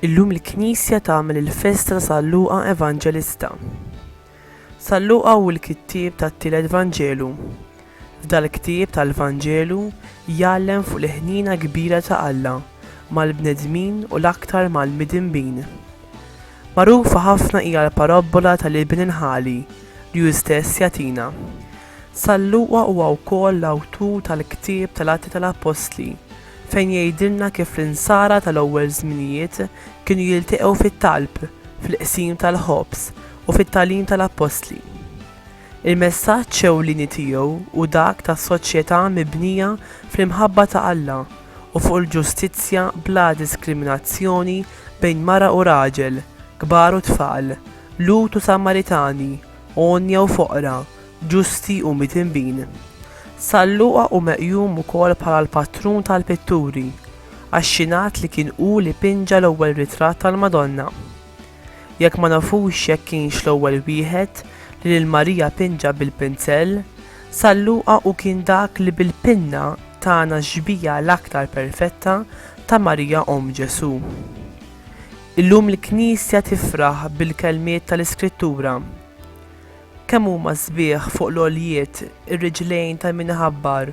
Illum il-Knisja tagħmel il-festa ta' San Luqa Evanġelista. San Luqa hu l-kittieb tat-tielet Vanġelu. F'dal-ktieb tal-Vanġelu jgħallem fuq il-ħniena kbira ta' Alla mal-bnedmin u l-aktar mal-midinbin. Magħrufa ħafna hija l-parabbola tal-iben il-ħali li hu stess jagħtina. San Luqa huwa wkoll l-awtur tal-ktieb tal-Atti tal-Appostli fejn jgħidilna kif l-insara tal-ewwel żminijiet kienu jilteqgħu fit-talb, fil-qsim tal-ħobż, u fit-tagħlim tal-appostli. Il-messaġġ ewlieni tiegħu hu dak ta' soċjetà mibnija fl-imħabba ta' Alla u fuq il-ġustizzja bla diskriminazzjoni bejn mara u raġel, kbar u tfal, Lhud u Samaritani, għonja u foqra, ġusti u midinbin. San Luqa hu meqjum ukoll bħala l-patrun tal-pitturi, għax jingħad li kien hu li pinġa l-ewwel ritratt tal-Madonna. jekk ma nafux jekk kienx l-ewwel wieħed li lil Marija pinġa bil-pinsell, San Luqa hu kien dak li bil-pinna tana x-xbieha l-aktar perfetta ta' Marija Omm Ġesù. Illum l-Knisja tifraħ bil-kelmiet tal-Iskrittura, Kemm huma sbieħ fuq l-għoljiet ir-riġlejn ta' min iħabbar